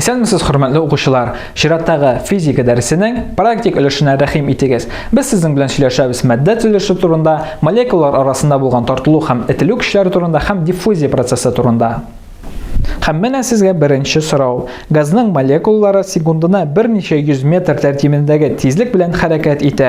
Исәнмесез, хөрмәтле укучылар! Чираттагы физика дәресенең практик өлешенә рәхим итегез. Без сезнең белән сөйләшәбез матдә төзелеше турында, молекулалар арасында булган тартылу һәм этелү көчләре турында һәм диффузия процессы турында. Һәм менә сезгә беренче сорау. Газның молекулалары секундына берничә йөз метр тәртибендәге тизлек белән хәрәкәт итә.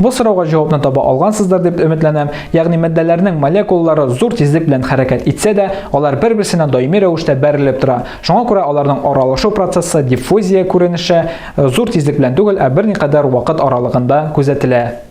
Бу сорауга җавапны таба алгансыздыр дип өметләнәм. Ягъни матдәләрнең молекулалары зур тизлек белән хәрәкәт итсә дә, алар бер-берсенә даими рәвештә бәрелеп тора. Шуңа күрә аларның аралашу процессы диффузия күренеше э, зур тизлек белән түгел, ә берникадәр вакыт аралыгында күзәтелә.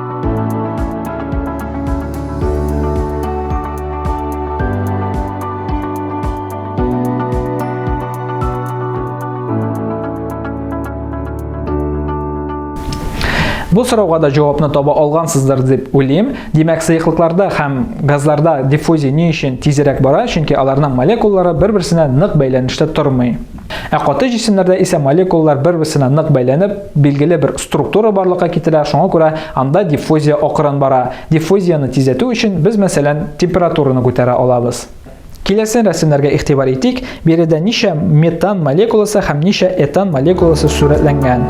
Бу сорауга да җавапны таба алгансыздыр дип уйлыйм. Димәк, сыеклыкларда һәм газларда диффузия ни өчен тизрәк бара? Чөнки аларның молекулалары бер-берсенә нык бәйләнештә тормый. Ә каты җисемнәрдә исә молекулалар бер-берсенә нык бәйләнеп, билгеле бер структура барлыкка китерә, шуңа күрә анда диффузия акрын бара. Диффузияне тизләтү өчен без, мәсәлән, температураны күтәрә алабыз. Киләсе рәсемнәргә игътибар итик, биредә ничә метан молекуласы һәм ничә этан молекуласы сурәтләнгән.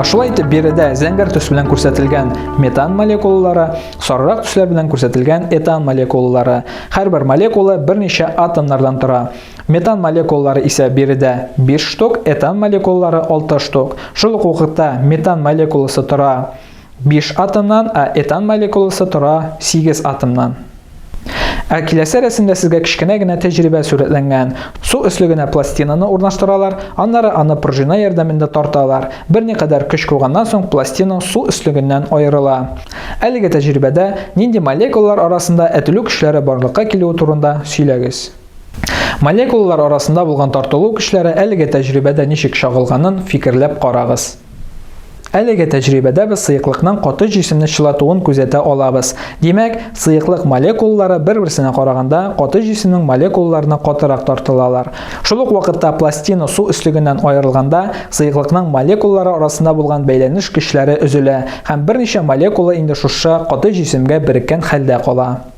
Шулай итеп биредә зәңгәр төс белән күрсәтелгән метан молекулалары, сарырак төсләр белән күрсәтелгән этан молекулалары. Һәрбер молекула берничә атомнардан тора. Метан молекулалары исә биредә биш штук, этан молекулалары алты штук. Шул ук вакытта метан молекуласы тора биш атомнан, ә этан молекуласы тора сигез атомнан. Ә киләсе рәсемдә сезгә кечкенә генә тәҗрибә сурәтләнгән. Су өслегенә пластинаны урнаштыралар, аннары аны пружина ярдәмендә тарталар. Берникадәр көч куйганнан соң пластина су өслегеннән аерыла. Әлеге тәҗрибәдә нинди молекулалар арасында әтелү көчләре барлыкка килүе турында сөйләгез. Молекулалар арасында булган тартылу көчләре әлеге тәҗрибәдә ничек чагылганын фикерләп карагыз. Әлеге тәҗрибәдә без сыеклыкның каты җисемне чылатуын күзәтә алабыз. Димәк, сыеклык молекулалары бер-берсенә караганда каты җисемнең молекулаларына катырак тартылалар. Шул ук вакытта пластина су өслегеннән аерылганда, сыеклыкның молекулалары арасында булган бәйләнеш көчләре өзелә һәм берничә молекула инде шушы каты җисемгә береккән хәлдә кала.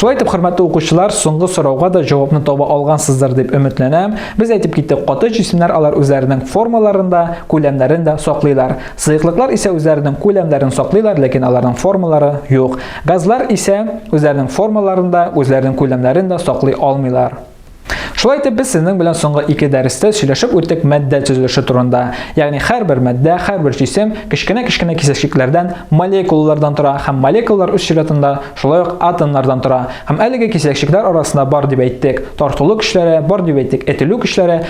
Шулай итеп, хөрмәтле укучылар, соңгы сорауга да җавапны таба алгансыздыр дип өметләнәм. Без әйтеп киттек, каты җисемнәр алар үзләренең формаларында, күләмнәрен дә саклыйлар. Сыеклыклар исә үзләренең күләмнәрен саклыйлар, ләкин аларның формалары юк. Газлар исә үзләренең формаларын да, үзләренең күләмнәрен дә саклый алмыйлар. Шулай итеп без сезнең белән соңгы ике дәрестә сөйләшеп үттек матдә төзелеше турында. Ягъни һәрбер матдә, һәрбер җисем кечкенә-кечкенә кисәчекләрдән, молекулалардан тора һәм молекулалар үз чиратында шулай ук атомнардан тора. Һәм әлеге кисәчекләр арасында бар дип әйттек, тартылу көчләре, бар дип әйттек, этелү көчләре,